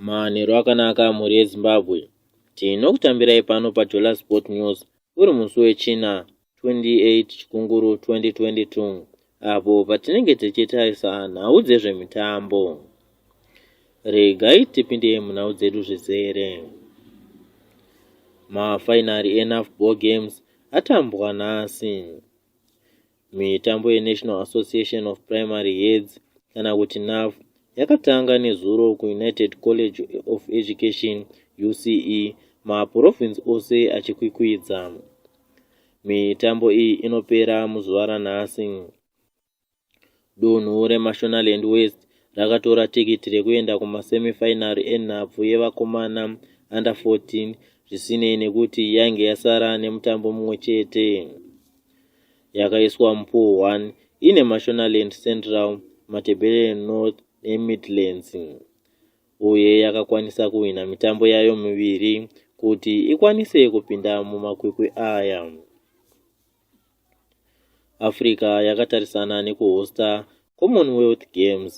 Manheru akanaka mhuri yeZimbabwe. Tinokutambirai pano paJola Sport News uri musi weChina 28 Chikunguru 2022 apo patinenge tichitarisa nhau dzezvemitambo. Regai tipinde munhau dzedu zvizere. Mafainari eNAFBO Games atambwa nhasi. Mitambo yeNational Association of Primary Heads kana kuti NAF yakatanga nezuro kuUnited College of Education, UCE, mapurovinzi ose achikwikwidza. Mitambo iyi inopera muzuva ranhasi. Dunhu reMashonaland West rakatora tikiti rekuenda kumasemifainari enhabvu yevakomana under 14 zvisinei nekuti yainge yasara nemutambo mumwe chete. Yakaiswa mupool 1 ine Mashonaland Central, Matabeleland North neMidlands uye yakakwanisa kuhwina mitambo yayo miviri kuti ikwanise kupinda mumakwikwi aya. Africa yakatarisana nekuhosta Commonwealth Games.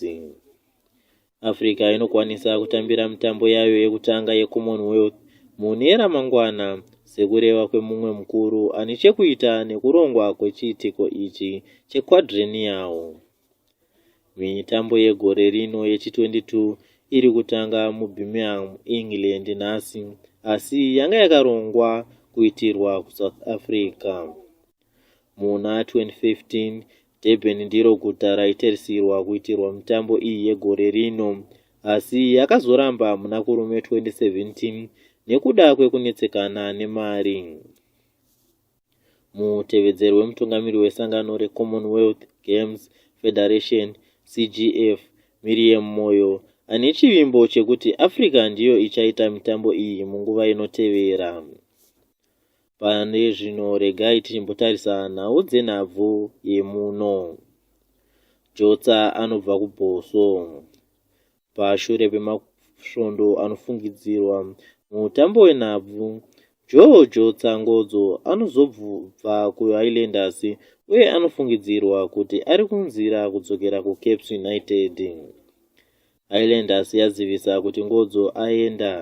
Africa inokwanisa kutambira mitambo yayo yekutanga yeCommonwealth mune ramangwana sekureva kwemumwe mukuru ane chekuita nekurongwa kwechiitiko ichi chequadrennial. Mitambo yegore rino yechi22 iri kutanga muBirmingham, England nhasi asi yanga yakarongwa kuitirwa kuSouth Africa. Muna 2015, Durban ndiro guta raitarisirwa kuitirwa mitambo iyi yegore rino asi yakazoramba muna Kurume 2017 nekuda kwekunetsekana nemari. Mutevedzeri wemutungamiri wesangano reCommonwealth Games Federation, CGF, Miriam Moyo, ane chivimbo chekuti Africa ndiyo ichaita mitambo iyi munguva inotevera. Pane zvino regai tichimbotarisa nhau dzenhabvu yemuno. Jotsa anobva kuBhoso. pashure pemasvondo anofungidzirwa mutambo wenhabvu George Tsangodzo anozobva kuHighlanders uye anofungidzirwa kuti ari kunzira kudzokera kuCaps United. Highlanders yazivisa kuti Ngodzo aenda.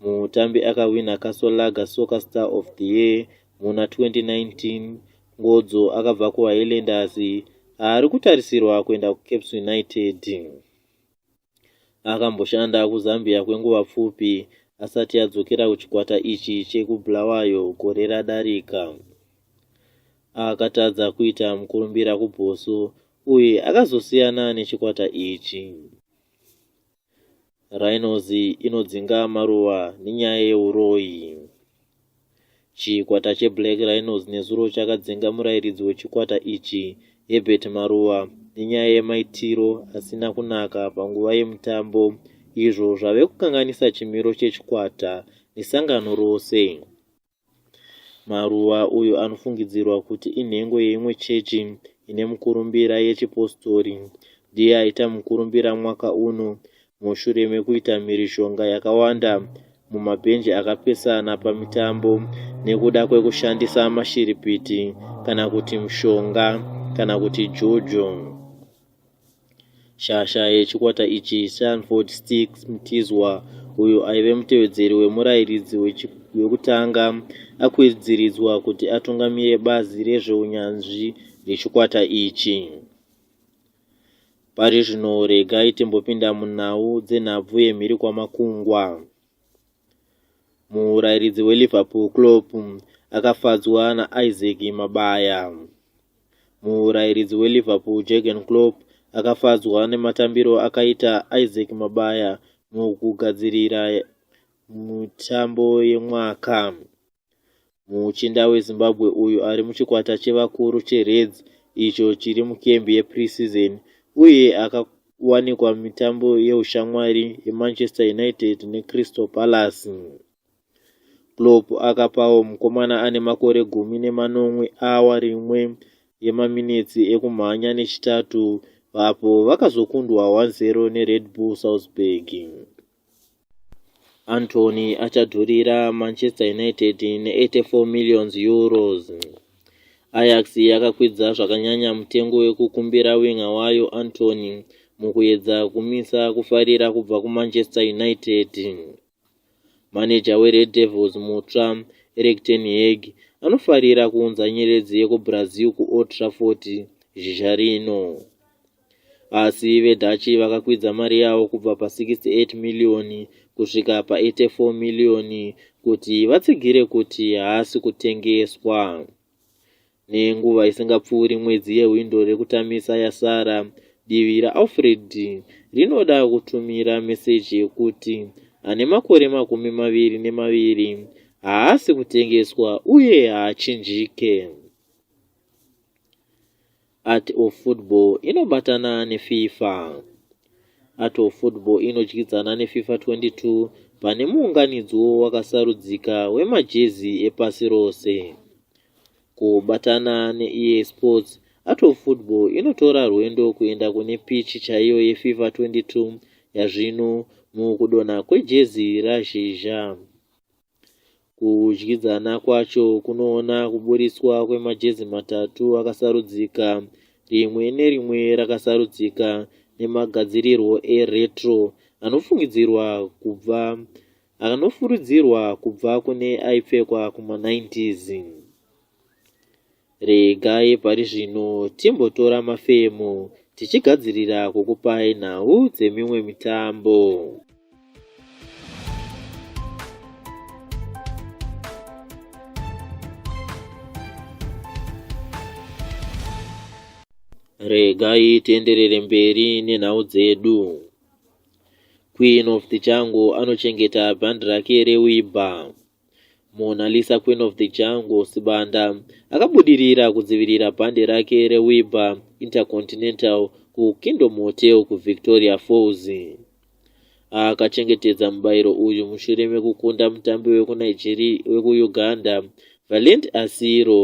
Mutambi akahwina Castle Lager Soccer Star of the Year muna 2019, Ngodzo akabva kuHighlanders ari kutarisirwa kuenda kuCaps United. Akamboshanda kuZambia kwenguva pfupi asati adzokera kuchikwata ichi chekubulawayo gore radarika akatadza kuita mukurumbira kuboso uye akazosiyana nechikwata ichi Rhinos inodzinga maruva nenyaya yeuroyi. Chikwata cheBlack Rhinos nezuro chakadzinga murairidzi wechikwata ichi, Herbert Maruva, nenyaya yemaitiro asina kunaka panguva yemutambo izvo zvave kukanganisa chimiro chechikwata nesangano rose. Maruva uyu anofungidzirwa kuti inhengo yeimwe chechi ine mukurumbira yechipositori. Ndiye aita mukurumbira mwaka uno mushure mekuita mhirizhonga yakawanda mumabhenji akapesana pamitambo nekuda kwekushandisa mashiripiti kana kuti mushonga kana kuti jojo. Shasha yechikwata ichi, Sanford Stix Mtizwa, uyo aive mutevedzeri wemurairidzi wekutanga, akwidziridzwa kuti atungamire bazi rezveunyanzvi rechikwata ichi. Pari zvino regai timbopinda munhau dzenhabvu yemhiri kwamakungwa. Murairidzi weliverpool clop akafadzwa naisaac mabaya Murairidzi weLiverpool Jurgen Klopp akafadzwa nematambiro akaita Isaac Mabaya mukugadzirira mutambo yemwaka. Muchinda weZimbabwe uyu ari muchikwata chevakuru cheReds icho chiri mukembi yepreseason uye akawanikwa mitambo yeushamwari yeManchester United neCrystal Palace. Klopp akapawo mukomana ane makore gumi nemanomwe awa rimwe yemaminetsi ekumhanya neChitatu apo vakazokundwa 1-0 neRed Bull Salzburg. Antony achadhurira Manchester United ne84 millions euros. Ajax yakakwidza zvakanyanya mutengo wekukumbira winga wayo Antony mukuyedza kumisa kufarira kubva kuManchester United. Maneja weRed Devils mutsva, Erik ten Hag, anofarira kuunza nyeredzi yekuBrazil kuOld Trafford zhizha rino. Asi veDutch vakakwidza mari yavo kubva pa68 miriyoni kusvika pa84 miriyoni kuti vatsigire kuti haasi kutengeswa. Nenguva isingapfuuri mwedzi yehwindo rekutamisa yasara, divi raAlfred rinoda kutumira meseji yekuti ane makore makumi maviri nemaviri haasi kutengeswa uye haachinjike. Art of Football inobatana neFIFA. Art of Football inodyidzana neFIFA 22 pane muunganidzwo wakasarudzika wemajezi epasi rose. Kubatana neEA Sports, Art of Football inotora rwendo kuenda kune pichi chaiyo yeFIFA 22 yazvino mukudonha kwejezi raZhizha. Kudyidzana kwacho kunoona kuburitswa kwemajezi matatu akasarudzika, rimwe nerimwe rakasarudzika nemagadzirirwo eretro anofungidzirwa kubva akanofuridzirwa kubva kune aipfekwa kuma90s. Regai pari zvino timbotora mafemo tichigadzirira kukupai nhau dzemimwe mitambo. Regai tienderere mberi nenhau dzedu. Queen of the Jungle anochengeta bhandi rake reWIBA. Mona Lisa Queen of the Jungle Sibanda akabudirira kudzivirira bhandi rake reWIBA Intercontinental kuKingdom Hotel kuVictoria Falls. Akachengetedza mubairo uyu mushure mekukunda mutambi wekuNigeria wekuUganda Valent Asiro.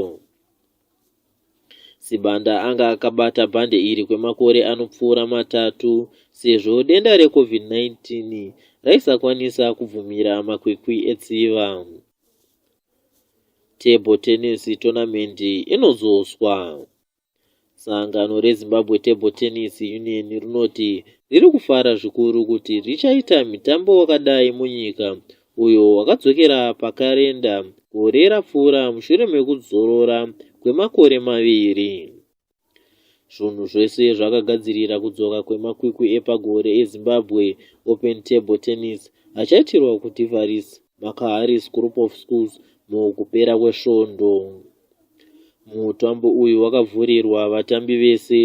Sibanda anga akabata bhande iri kwemakore anopfuura matatu sezvo denda reCovid-19 raisakwanisa kubvumira makwikwi etsiva. Table Tennis Tournament inodzoswa. Sangano reZimbabwe Table Tennis Union rinoti riri kufara zvikuru kuti richaita mitambo wakadai munyika uyo wakadzokera pakarenda gore rapfuura mushure mekuzorora kwemakore maviri zvunhu zvese zvakagadzirira kudzoka kwemakwikwi epagore ezimbabwe open table tennis achaitirwa kudivaris makaharis group of schools mukupera kwesvondo mutambo uyu wakavhurirwa vatambi vese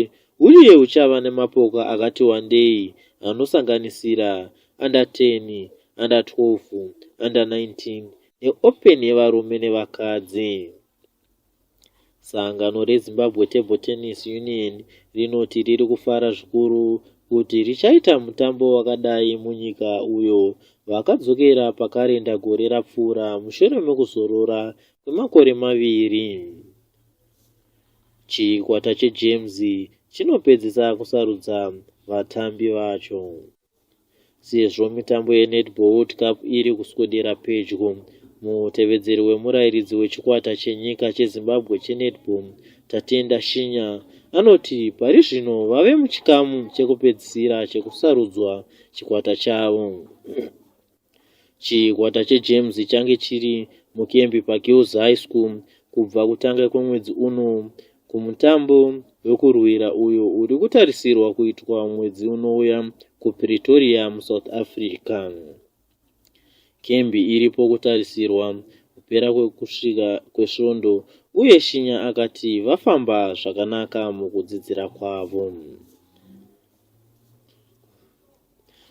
Uye huchava nemapoka akati wandei anosanganisira under 10, under 12, under 19 neOpen yevarume nevakadzi. Sangano reZimbabwe Table Tennis Union rinoti riri kufara zvikuru kuti richaita mutambo wakadai munyika uyo vakadzokera pakarenda gore rapfuura mushure mekuzorora kwemakore maviri. Chikwata cheGems chinopedzisa kusarudza vatambi vacho. Sezvo mitambo yeNetball World Cup iri kuswedera pedyo, mutevedzeri wemurairidzi wechikwata chenyika cheZimbabwe cheNetball, Tatenda Shinya, anoti pari zvino vave muchikamu chekupedzisira chekusarudzwa chikwata chavo. Chikwata cheGems change chiri mukembi paGirls High School kubva kutanga kwemwedzi uno kumutambo wekurwira uyo uri kutarisirwa kuitwa mwedzi unouya kuPretoria muSouth Africa. Kembi iripo kutarisirwa kupera kwekusvika kwesvondo uye Shinya akati vafamba zvakanaka mukudzidzira kwavo.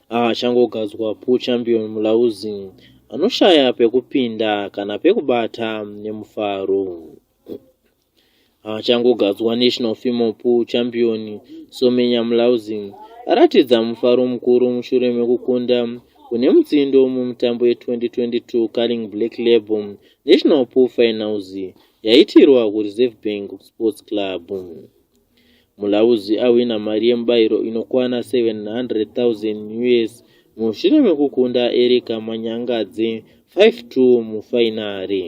achangogadzwa pool champion mulauzi anoshaya pekupinda kana pekubata nemufaro achangogadzwa national female pool champion somenya mulauzi aratidza mufaro mukuru mushure mekukunda kune mutsindo mumutambo ye2022 carling black label national pool finals yaitirwa kureserve bank sports club Mulauzi ahwina mari yemubairo inokwana 700,000 us mushure mekukunda Erika Manyangadzi 5-2 mufainari.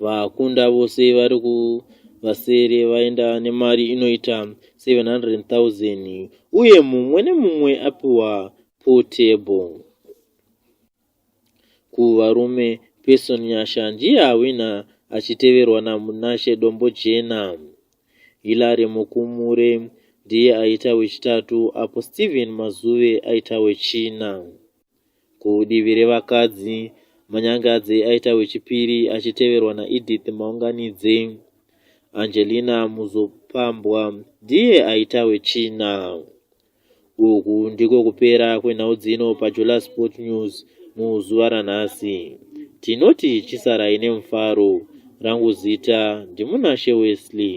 Vakunda vose vari kuvasere vaenda nemari inoita 700,000 uye mumwe nemumwe apiwa portable. kuvarume Pearson Nyasha ndiye awina achiteverwa naMunashe Dombojena. Hilary Mukumure ndiye aita wechitatu apo Steven Mazuve aita wechina. Kudivi revakadzi, Manyangadze aita wechipiri achiteverwa naEdith Maunganidze. Angelina Muzopambwa ndiye aita wechina. uku ndiko kupera kwenhau dzino pajula sport news muzuva ranhasi tinoti chisarai nemufaro rangu zita ndimunashe wesley